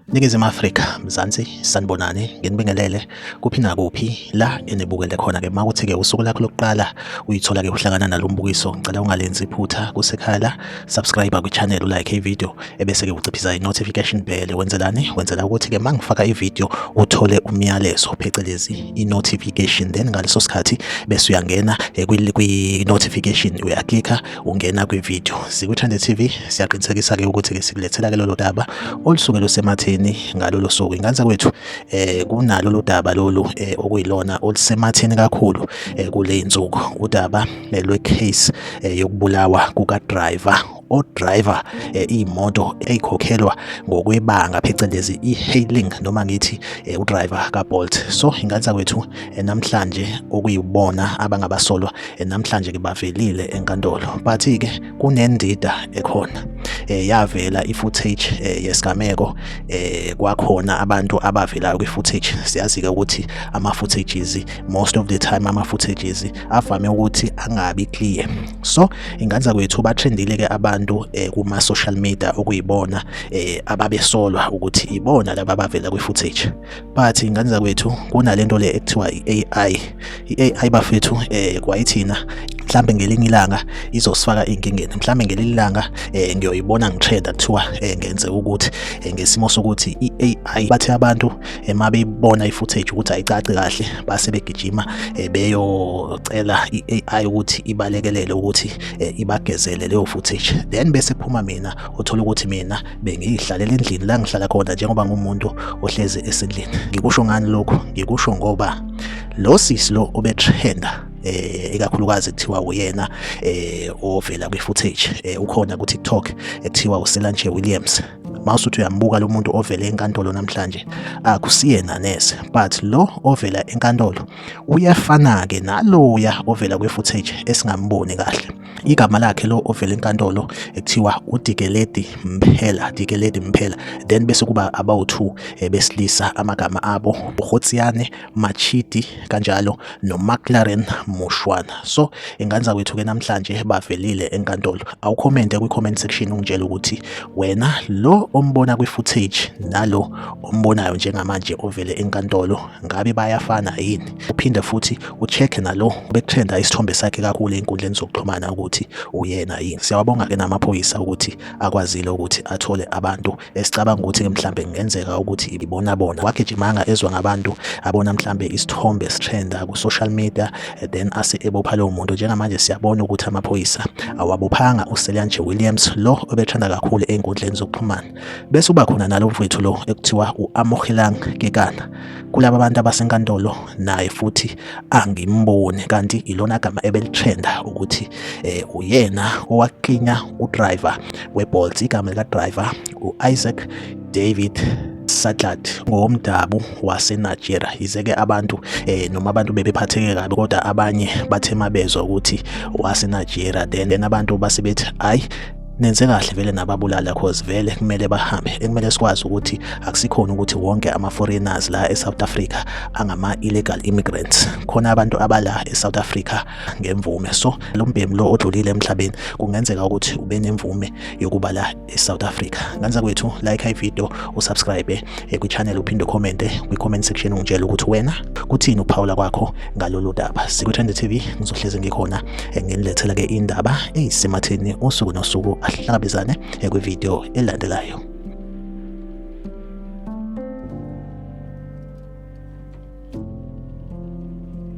Ningizimu Afrika, Mzansi, sanibonani, nginibingelele kuphi nakuphi la enibukele khona ke makuthi ke usuku lakho lokuqala uyithola ke uhlangana nalombukiso, ngicela ungalenzi iphutha kusekhaya la, subscribe kwi channel, u like i video. ebese-ke uciphisa i-notification bell wenzelani wenzela ukuthi-ke uma ngifaka ividiyo uthole umyalezo phecelezi i-notification then ngaleso sikhathi bese uyangena eh, kwi-notification uyaklikha ungena kwividiyo zikuthande tv siyaqinisekisa-ke ukuthi-ke sikulethela-ke lolo daba olusuke lusematheni ngalolo suku inganza kwethu um eh, kunalolu daba lolu um okuyilona olusematheni kakhulu um kule nsuku udaba lwe-case um yokubulawa kukadriver odrayiva eh, iy'moto ey'khokhelwa ngokwebanga phecelezi i-hailing noma ngithi eh, udrayiva kabolt so ingane zakwethu eh, namhlanje okuyibona abangabasolwa namhlanje-ke bavelile enkantolo but-ke kunendida ekhona eh, yavela i-footage eh, yesigameko eh, kwakhona abantu abavelayo kwi-footage siyazi-ke ukuthi ama-footages most of the time ama-footages avame ukuthi angabi clear so inganza kwethu batrendile ke abantu eh, kuma social media okuyibona eh, ababesolwa ukuthi ibona laba abavela kwi footage but inganza kwethu kunalento le ekuthiwa iAI iAI bafethu eh, kwayithina mhlambe ngelinye ilanga izosifaka inkingeni mhlambe ngelinye ilanga eh, ngiyoyibona ngitrenda kuthiwa eh, ngenze ukuthi eh, ngesimo sokuthi iAI bathe abantu ema beyibona i-footage ukuthi ayicaci kahle base begijima eh, beyocela i-AI ukuthi ibalekelele ukuthi eh, ibagezele leyo footage then bese phuma mina uthola ukuthi mina bengiyihlalele endlini la ngihlala khona njengoba ngumuntu ohlezi esendlini ngikusho ngani lokho ngikusho ngoba lo sisi lo obetrenda eh ikakhulukazi kuthiwa uyena eh ovela kwi footage eh ukhona ku TikTok ekuthiwa uSelanje Williams mawusuthi uyambuka lo muntu ovele enkantolo namhlanje akusiyena nese but lo ovela enkantolo uyafana-ke naloya ovela kwi-footage esingamboni kahle igama lakhe lo ovela enkantolo ekuthiwa udikeledi mphela dikeledi mphela then bese kuba abawu-two eh, besilisa amagama abo uhotsiyane Machidi kanjalo noMcLaren Mushwana. So ingane kwethu ke namhlanje bavelile enkantolo. Awukhomente kwi-comment section ungitshela ukuthi wena lo ombona kwi-footage nalo ombonayo njengamanje ovele enkantolo ngabe bayafana yini? Uphinde futhi ucheck nalo bekuthenda isithombe sakhe kakhulu enkundleni zokuxhumana ukuthi uyena yini. Siyawabonga ke namaphoyisa ukuthi akwazile ukuthi athole abantu esicabanga ukuthi-ke mhlampe kungenzeka ukuthi ibibona bona wagijimanga ezwa ngabantu abona mhlampe isithombe sithenda ku-social media eh, then ase ebopha lowo muntu njengamanje siyabona ukuthi amaphoyisa awabophanga uselanje williams lo obethanda kakhulu ey'nkundleni zokuxhumana bese uba khona nalo mfowethu lo ekuthiwa u-amohelang kekana kulaba bantu abasenkantolo naye futhi angimboni kanti ilona gama ebelitrenda ukuthi eh, uyena owaklinya udriver weBolt igama likadriver uIsaac David Satlat ngowomdabu waseNigeria yize-ke abantu eh, noma abantu bebephatheke kabi kodwa abanye bathe mabezwa ukuthi waseNigeria then abantu base bethi hayi nenze kahle vele nababulala cause vele kumele bahambe ekumele sikwazi ukuthi akusikhona ukuthi wonke ama foreigners la eSouth Africa angama illegal immigrants khona abantu abala eSouth Africa ngemvume so lo mbhemu lo odlulile emhlabeni kungenzeka ukuthi ube nemvume yokuba la eSouth Africa kanza kwethu like i video usubscribe eh, kwi channel uphinde comment eh, kwi comment section ungitshela ukuthi wena kuthini uphawula kwakho ngalolu daba sikwi-trend tv ngizohlezi ngikhona eh, nginilethela-ke indaba eyisematheni usuku nosuku ahlangabezane eh, kwividiyo elandelayo